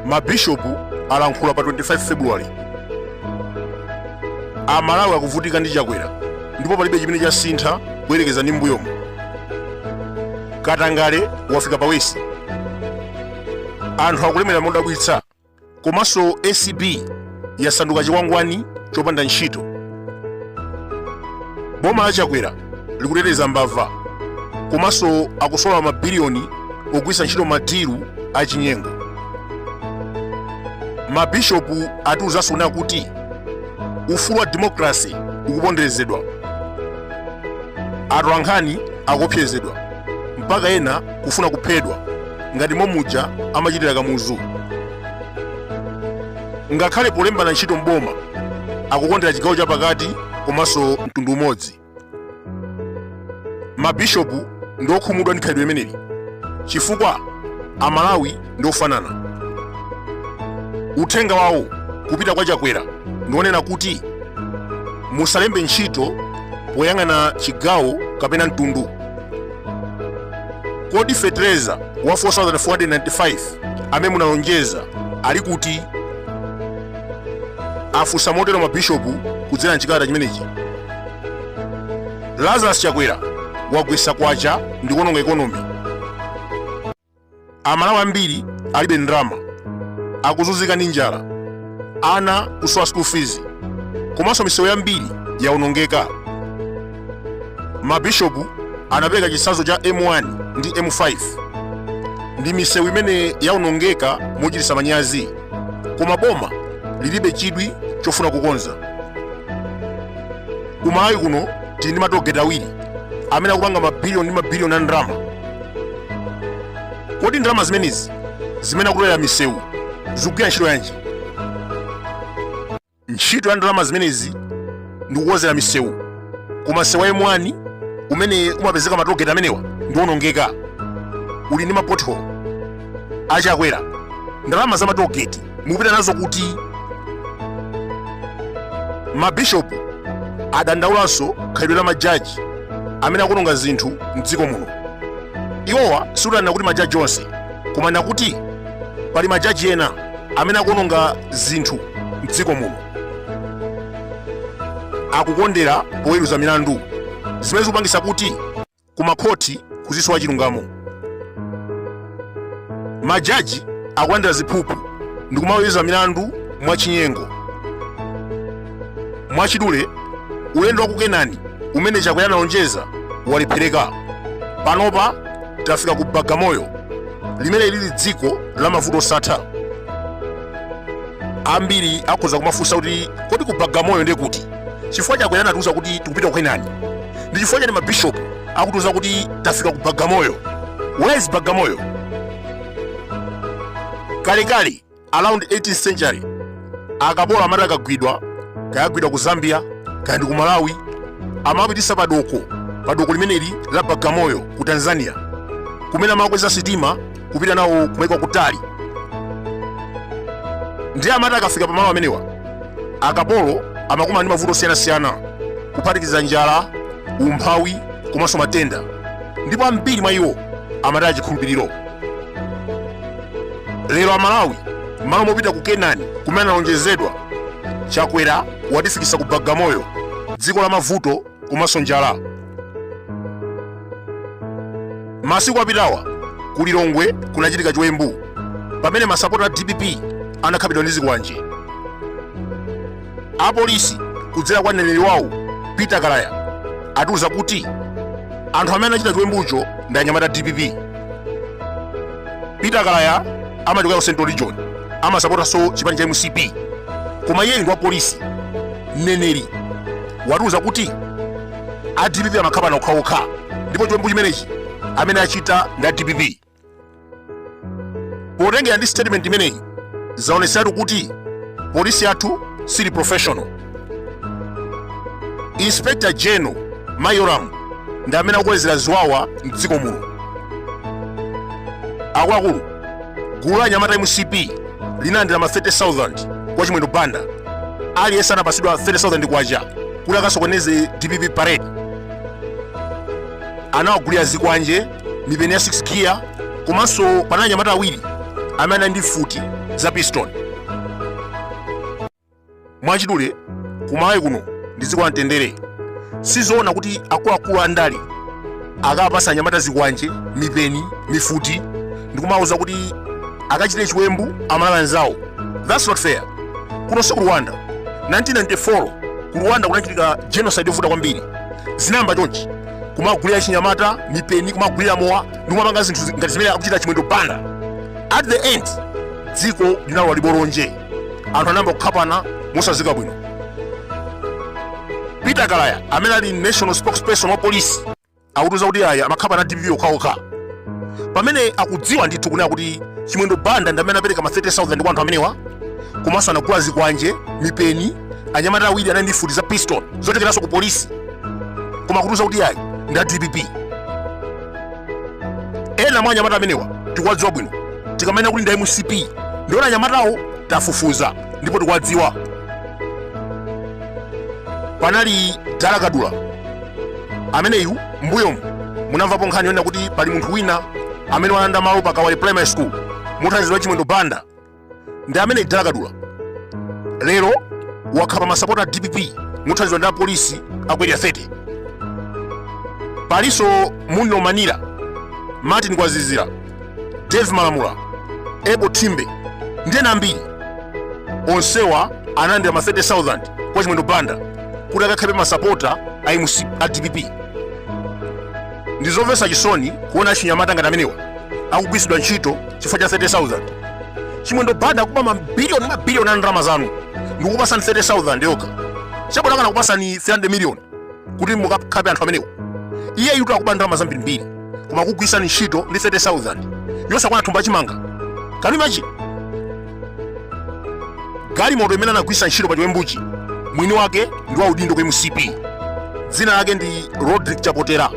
mabishopu alankhula pa 25 february amalawi akuvutika ndi chakwera ndipo palibe chimene chasintha kuyerekeza ndi mbuyomu katangale wafika pa wesi anthu akulemera modabwitsa komanso acb yasanduka chikwangwani chopanda ntchito boma la chakwera likuteteza mbava komanso akusola mabiliyoni ogwiritsa ntchito madilu achinyengo mabishopu atiuzanso kunena kuti ufulu wa demokrasi ukuponderezedwa atolankhani akuopsezedwa mpaka ena kufuna kuphedwa ngati momuja amachitira kamuzu ngakhale polembana ntchito mboma akukondera chigawo chapakati komanso mtundu umodzi mabishopu ndi okhumudwa ndi khalidwe limeneli chifukwa amalawi ndi ofanana uthenga wawo kupita kwa chakwera ndi onena kuti musalembe ntchito poyang'ana chigawo kapena mtundu kodi fetereza wa 4495 amene munalonjeza ali kuti afunsa motero mabishopu kudzera mchikalata chimenechi lazarus chakwera wagwetsa kwacha ndi kuononga ekonomi Amalawi ambiri alibe ndalama, akuzunzika ndi njala, ana kusowa school fees, komanso misewu yambiri yawonongeka. Mabishopu anapereka chitsanzo cha M1 ndi M5 ndi misewu imene yawonongeka mochititsa manyazi, koma boma lilibe chidwi chofuna kukonza. Ku Malawi kuno tili ndi matogeti awiri amene akupanga mabiliyoni ndi mabiliyoni a ndalama. kodi ndalama zimenezi zimene akutolera misewu zikugwira ntchito yanji ntchito ya ndalama zimenezi ndi kukonzera misewu koma msewu wa M1 umene umapezeka matogeti amenewa ndi owonongeka uli ndi mapotholo achakwera ndalama za matogeti mukupita nazo kuti mabishopu adandaulanso khalidwe la majaji amene akuononga zinthu mdziko muno iwowa sakunena kuti majaji onse koma kunena kuti pali majaji ena amene akuononga zinthu mdziko muno akukondera poweruza milandu zimene zikupangisa kuti ku makhoti kuzisowa chilungamo majaji akulandira ziphuphu ndi kumaweruza milandu mwachinyengo mwachidule ulendo wa kukenani umene chakwera analonjeza walephereka panopa tafika ku bagamoyo limene lili dziko la mavuto osatha ambiri akhoza kumafunsa kuti kodi ku bagamoyo ndiye kuti chifukwa chakwera anatiuza kuti tikupita ku kenani ndi chifukwa chani mabishopu akutiuza kuti tafika ku bagamoyo where is bagamoyo kalekale around 18th century akapolo amati akagwidwa kaya agwidwa ku zambia kaya ndi ku malawi amawapititsa padoko padoko limeneli la bagamoyo ku tanzania kumene amakweza sitima kupita nawo kumaiko kutali ndiye amati akafika pamalo amenewa akapolo amakumana ndi mavuto osiyanasiyana kuphatikiza njala umphawi komanso matenda ndipo ambiri mwa iwo amataya chikhulupiriro lero amalawi m'malo mopita ku kenani kumene tinalonjezedwa chakwera watifikisa ku bagamoyo dziko la mavuto komanso njala masiku apitawa ku lilongwe kunachitika chiwembu pamene masapota a dpp anakhapidwa ndi zikwanje apolisi kudzera kwa mneneri wawo peter kalaya atiuza kuti anthu amene anachita chiwembucho ndi anyamata a dpp peter kalaya amachokera ku central region amasapotanso chipani cha mcp koma iye ndi wa polisi mneneri watiuza kuti a dpp amakhapana okhaokha ndipo chiwembu chimenechi amene achita ndi a dpp potengera ndi statement imeneyi zaoneseratu kuti polisi yathu siili professional inspector general ma yolamu ndi amene akukolezera ziwawa mdziko muno akuluakulu gulu la anyamata a mcp linalandira ma 30,000 kwa chimwendo banda aliyense anapatsidwa 30,000 kwacha kuti akasokoneze dpp parade anawagulira zikwanje mipeni ya 6 giya komanso panali anyamata awiri amene anali ndi mfuti za pistol Mwachidule, ku Malawi kuno ndi dziko la mtendere. Sizoona kuti akuluakulu a ndale akapatsa anyamata zikwanje, mipeni, mifuti ndikumawuza kuti akachite chiwembu amalawi anzawo. That's not fair. Kuno si ku Rwanda. 1994 ku Rwanda kunachitika genocide yovuta kwambiri. Zinayamba chonchi kumagulira achinyamata mipeni, kumagulira mowa ndikumapanga zinthu zi- ngati zimene akuchita Chimwendo Banda. At the end dziko linalowa libolonje. anthu anayamba kukhapana mosadziwika bwino peter kalaya amene ali national spokesperson wa polisi akutiuza kuti aya amakhapana a dpp okhaokha pamene akudziwa ndithu kunena kuti chimwendo banda ndi amene apereka ma 30000 kwa anthu amenewa komanso anagula zikwanje mipeni anyamata awiri anali ndi mfuti za piston zochokeranso ku polisi koma akutiuza kuti aya ndi a dpp ena mwa anyamata amenewa tikuwadziwa bwino tikamanena kuti ndi a mcp ndiwo anyamatawo tafufuza ndipo tikuwadziwa panali dala kadula ameneyu mbuyomu munamvapo nkhani yonena kuti pali munthu wina amene walanda malo pa kawale primary school mothandizidwa chimwendo banda ndi amene dala kadula lero wakhapa masapota a dpp mothandizidwa ndi apolisi a ku area 30 palinso muno manira martin kwazizira dave malamula ebo timbe ndi ena ambiri onsewa analandira ma 30000 kwa chimwendo banda kuti akakhape masapota a mc a dpp ndi zomvetsa chisoni kuona achinyamata ngati amenewa akugwiritsidwa ntchito chifukwa cha 30000 chimwendo banda akuba mabiliyoni mabiliyoni a ndalama zanu ndikukupatsani 30000 yokha chabwino akanakupatsani 300 miliyoni kuti mukakhape anthu amenewa iyeyutu akuba ndalama zambirimbiri koma akukugwiritsani ntchito ndi 30000 yosakwana thumba chimanga can you imagine galimoto imene anagwiritsa ntchito pa chiwembuchi mwini wake ndi wa udindo ku mcp dzina lake ndi rodrick chapotera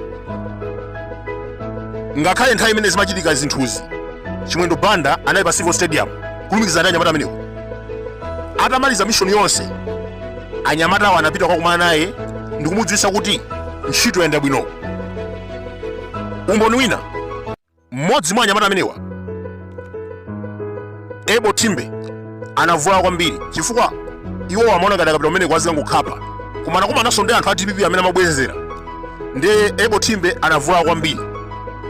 ngakhale nthawi imene zimachitika zinthuzi chimwendo banda anali pa civo stadium kulumikizana ndi anyamata amenewo atamaliza mishoni yonse anyamatawo anapita kukakumana naye ndikumudziwitsa kuti ntchito yayenda bwino umboni wina Mmodzi mwa anyamata amenewa, Ebo Timbe, anavulala kwambiri chifukwa iwo amaona ngati akapita kumene kuja azikangokhapa koma anakumananso ndi anthu a dpp amene amabwezera ndiye ebo timbe anavulala kwambiri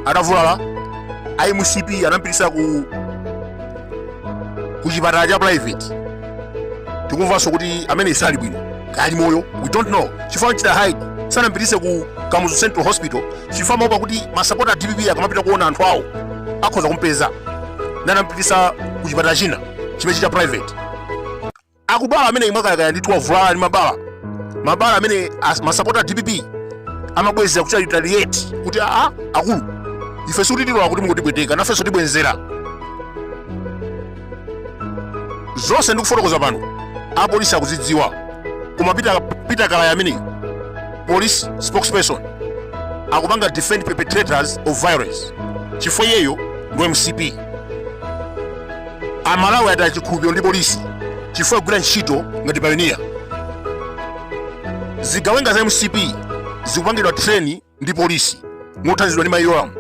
atavulala a mcp anampititsa ku chipatala cha private tikumvanso kuti amene sali bwino ali moyo we don't know chifukwa kuchita hide sanampititse ku kamuzu central hospital chifukwa amaopa kuti masapota a dpp akamapita kuona anthu awo akhoza kumpeza ndiye anampititsa ku chipatala china chimenechi cha private akudwala amene ali mwakayakaya ndithu wavulala ndi mabala mabala amene as- masapota a dpp amabwezera kuchita retaliate kuti aa akulu ife sikuti tilola kuti mungotipweteka nafenso tibwenzera zonse ndikufotokoza pano apolisi akudzidziwa koma Peter Kalaya amene police spokesperson akupanga defend perpetrators of violence chifukwa iyeyo ndi mcp Amalawi ataya chikhulupiriro ndi polisi chifukwa ikugwira ntchito ngati payoniya zigawenga za mcp zikupangidwa treni ndi polisi mothandizidwa ndi mayi Yolamu.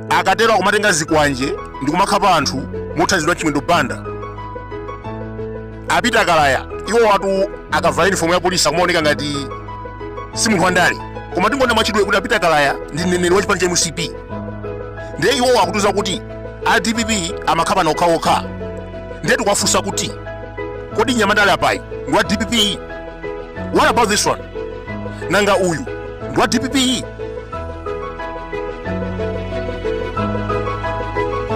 Akatero akumatenga zikwanje ndi kumakhapa anthu mothandizidwa ndi Chimwendo Banda. A Peter Kalaya iwowatu akavala yunifomu ya polisi akumaoneka ngati si munthu wandale koma tingonena mwachidule kuti a Peter Kalaya ndi mneneri wa chipani cha mcp ndiye iwowo akutiuza kuti a dpp amakhapana okhaokha ndiye tikuwafunsa kuti kodi nyamandale apayu ndi wa dpp What about this one? Nanga uyu ndi wa DPP?